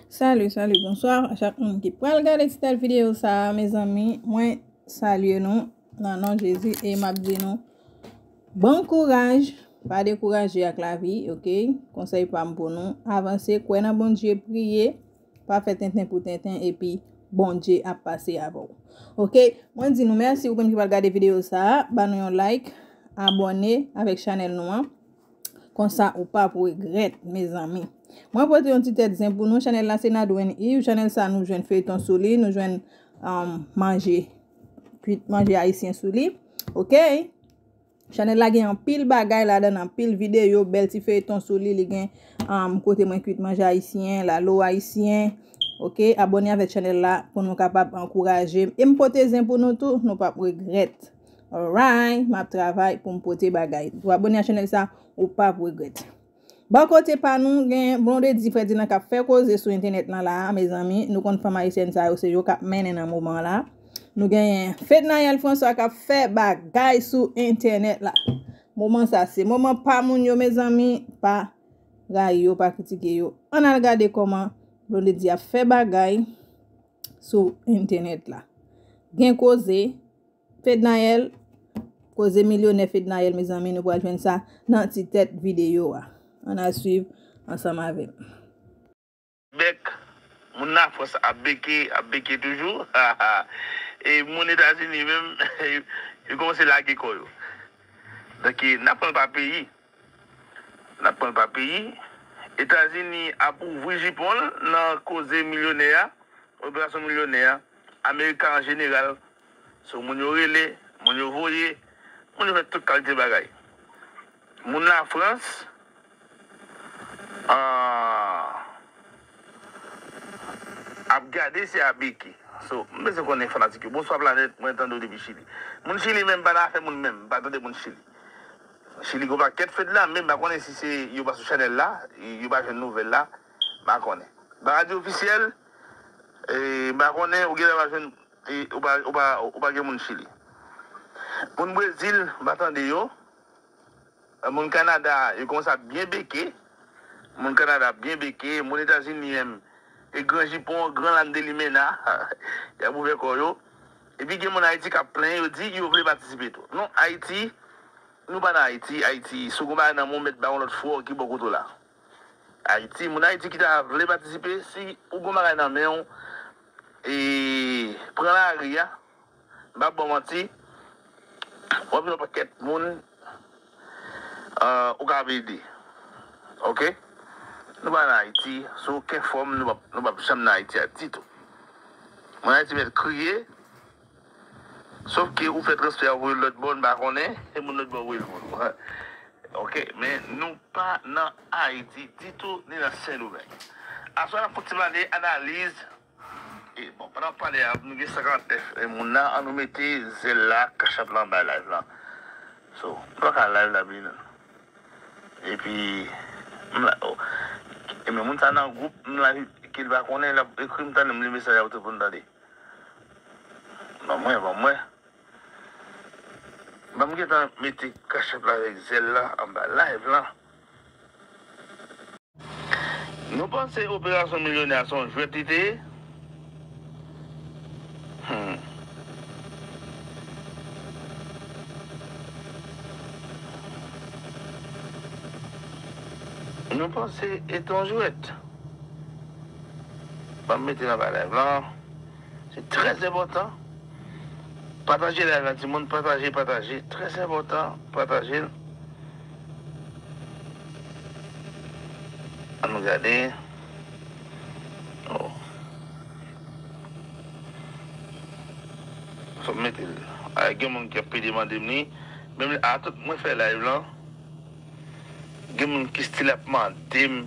Salut salut bonsoir a chak moun ki pral gade ti tèt vidéo sa mezanmi mwen salye nou nan non Jezi e map di nou bon kouraj pa dekouraje ak lavi ok konsèy pam pou nou avanse kwè nan Bondye priye pa fè tenten pou tenten epi Bondye ap pase avèw ok mwen di nou mèsi ou menm ki pral gade vidéo sa ba nou yon like abòne avèk chanèl nou an. Konsa ou pap regrèt mezanmi. Mwen pote yon ti tèt zen pou nou chanèl la se Nadwen Yves chanèl sa nou jwenn feyton sou li nou jwenn manje kwit manje ayisyen sou li ok chanèl la gen anpil bagay ladan anpil videyo bèl ti feyton sou li li gen kote mwen kwit manje ayisyen lalo ayisyen ok abòne avèk chanèl la pou nou kapab ankouraje m e m pote zen pou nou tou nou pap regrèt. Alright map travay poum pote bagay ou abone a chanel sa ou pap regret. Bò kote pa nou gen Blondedy Ferdinand kap fè koze sou entènèt lan la a mezanmi nou konn fanm ayisyèn sa yo se yo kap mennen nan moman la nou genyen Fednaelle François kap fè bagay sou entènèt la moman sa se moman pa moun yo mezanmi pa rayi yo pa kritike yo an al gade koman Blondedy ap fè bagay sou entènèt la gen koze. Fednaelle, koze milyonè Fednaelle mezanmi nou pral jwenn sa nan ti tèt videyo a. Ann al swiv ansanm avèm. Bèk moun Lafrans ap beke, ap beke toujou haha e moun Etazini menm yo kòmanse lage kò yo. Donk n ap pran l pa peyi, n ap pran l pa peyi. Etazini ap ouvri jipon l nan koze milyonè a, operasyon milyonè a. American an jeneral sou moun yo rele, moun yo voye, moun yo fè tout kalite bagay. Moun la frans ahh ap gade se a beki so m bezwen konnen fanatik yo bonswa planèt mwen tande w depi chili moun chili menm pa nan afè moun menm m pa tande moun chili chili gon pakèt fed la menm m pa konnen si se yo pa sou chanèl la yo pa jwenn nouvèl la m pa konnen ba radyo ofisyèl. M pa konnen, ou genlè pa jwenn, ou pa gen moun Chili. Moun Brezil, m pa tande yo. Moun Kanada, yo kòmanse ap byen beke. Moun Kanada ap byen beke. Moun Etazini menm, e gran jipon, gran lann de limena, y ap ouvè kò yo. Epi gen moun Ayiti k ap plenyen, yo di yo vle patisipe tou. Non, Ayiti, nou pa nan Ayiti. Ayiti, si w gen yon bagay nan men w, mèt ba yon lòt fwò ki bò kote w la. Ayiti, moun Ayiti ki ta vle patisipe, si ou gon bagay nan men ou, e pran lari a, m pap ba w manti, w ap jwenn yon pakèt moun ou kab ede. Ok. Nou pa nan Ayiti, sou oken fòm nou pap janm nan Ayiti a ditou. Moun Ayiti mèt kriye. Sof ke ou fè transfè a voyel lòt bò n pa konnen e moun lòt bò voyel pou nou ok men nou pa nan ayiti ditou ni nan sendomeng aswè nap kontinye pale analiz e bon pandan nap pale a nou gen 59 moun la an nou mete zèl la cachup la anba live la so nou pa ka live la bliye nan epi m la o e men moun sa nan gwoup m la kel pa konnen lap ekrim tande m li mesaj a ou t reponn tande. Ban mwen ban mwen Ban m gentan mete cash app la avèk zèl la anba live lan. Nou panse operasyon milyonè a se yon jwèt li te ye? Humm. Nou panse e te yon jwèt? Banm mete nan ba live lan. Se trè enpòtan. Pataje live la timoun pataje pataje trè enpòtan patajel. An nou gade oh. Fòm metel a gen moun ki ap pede mandem li menm a tout mwen fè live lan gen moun ki stil ap mandem.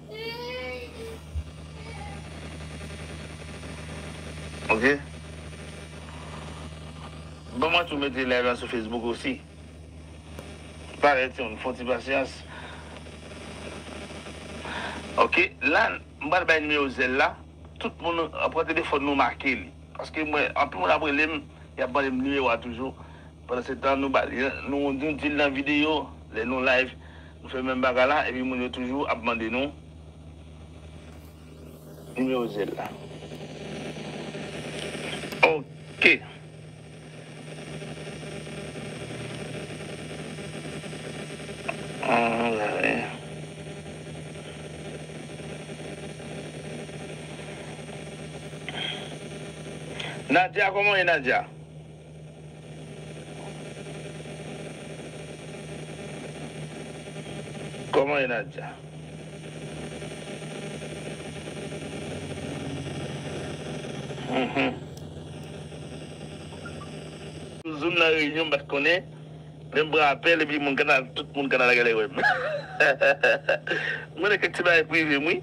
Ok Bon mwen tou mete live la sou Facebook osi Parèt yon fon ti pasyans Ok la m pral bay nimewo zèl la Tout moun pran telefòn nou make li Paske mwen anpil moun ap rele m Yap mande m nimewo a toujou Pandansetan nou bal nou nou dil nan video lè nou live nou fè menm bagay la epi moun yo toujou ap mande nou nimewo zel la ok. Nadia kòman ou ye Nadia. Kòman ye Nadia? Hum. Zoom nan reyinyon m pat konnen men m pran apèl epi moun kanada tout moun kanada genlè wèm mwen nan kèk ti bagay prive m wi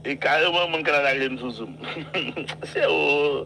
e kareman moun kanada relem sou zoom se ooh.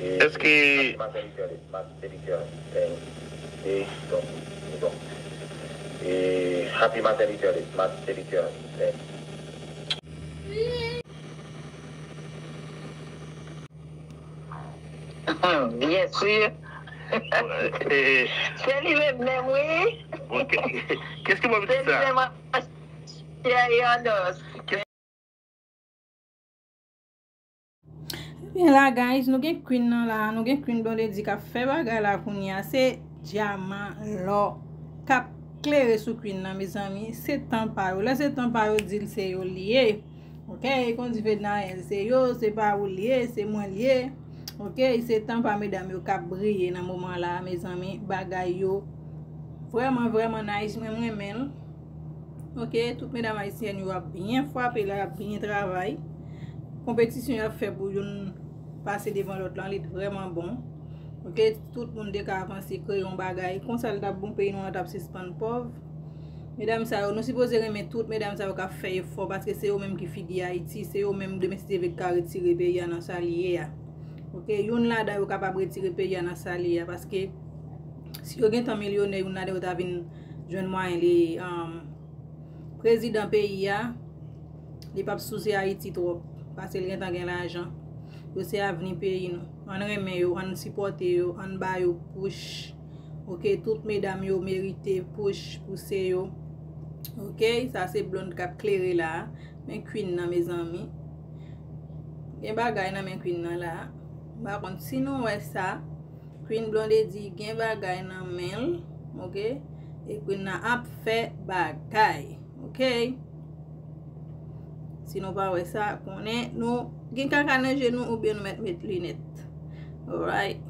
Eske. Ebyen la guys nou gen Queen nan la Nou gen Queen Blondedy kap fè bagay la kounye a Se dyaman, lò Kap klere sou Queen nan mezanmi Se tan pa yo Lè se tan pa yo dil se yo li ye Ok kon di Fednaelle Se yo se pa ou li ye Se mwen li ye Ok se tan pa medam yo kap briye nan moman la mezanmi Bagay yo Vreman vreman nice Mwen mrenmen l. Ok, tout medam ayisyen yo ap byen fwape la, ap byen travay. Konpetisyon yo ap fè pou yon pase devan lòt lan, li t vrèman bon. Ok, tout moun te ka avanse kreye yon bagay. Konsa l t ap bon, peyi nou an t ap sispann pòv. Medam sa yo, nou sipoze renmen tout medam sa yo k ap fè efò paske se yo menm ki figi Ayiti, se yo menm demen si Djeve t ka retire peyi a nan sa li ye a. Ok, youn ladan yo kapab retire peyi a nan sa li ye a paske si yo gentan milyonè youn ladan yo ta vin. jwenn mwayen li prezidan peyi a li pap sousi ayiti trop pasel gentan gen lajan yo se avni peyi nou ann renmen yo ann sipote yo ann ba yo push ok tout medam yo merite push pouse yo ok sa se blond kap klere la men queen nan mezanmi gen bagay nan men queen nan la m pa konn si nou wè sa. Queen blondedy gen bagay nan menl ok e queen nan ap fè bagay ok si nou pa wè sa konnen nou gen kaka nan je nou oubyen nou mèt met linèt alright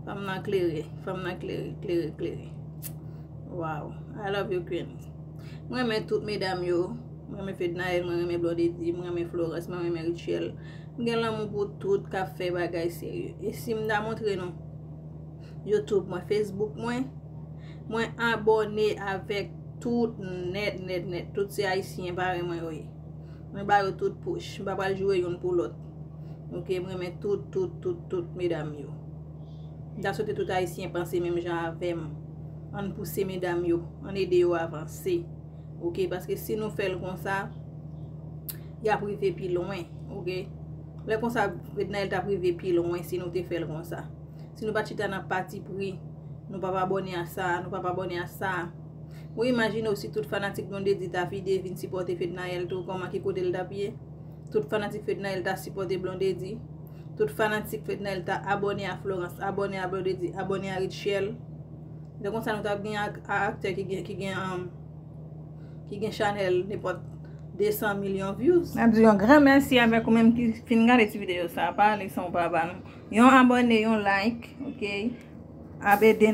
fanm nan klere fanm nan klere klere klere waw i love you queen mwen men tout medam yo mwen men fednaelle mwen men blondedy mwen men florence mwen men richelle M gen lanmou pou tout kap fè bagay serye. E si m ta montre nou YouTube mwen, Facebook mwen, mwen abòne avèk tout nèt, nèt, nèt. Tout se ayisyen parèy mwen yo ye. Mwen ba yo tout pouch. M pa pral joure youn pou lòt. Ok, m renmen tout, tout, tout, tout medam yo. M ta swete tout ayisyen panse menm jan avèm. Ann pouse medam yo. Ann ede yo avanse. Ok paske si nou fèl konsa Yap rive pi lwen Ok Lè konsa Fednaelle tap rive pi lwen si nou te fèl konsa Si nou pat chita nan pati pri Nou pap abòne a sa Nou pap abòne a sa Ou imajine ou si tout fanatik Blondedy ta vide vin sipòte Fednaelle tou Kòman ki kote l tap ye Tout fanatik Fednaelle ta sipòte Blondedy Tout fanatik Fednaelle ta abòne a Florence Abòne a Blondedy Abòne a Rutshelle Lè konsa nou tap gen aktè ki gen ki gen an ki gen chanèl nepòt 200 milyon vyouz. Map di yon gran mèsi avèk ou menm ki fin gade ti videyo sa pa ale san ou pa ba nou yon abòne yon like ok ap ede nou.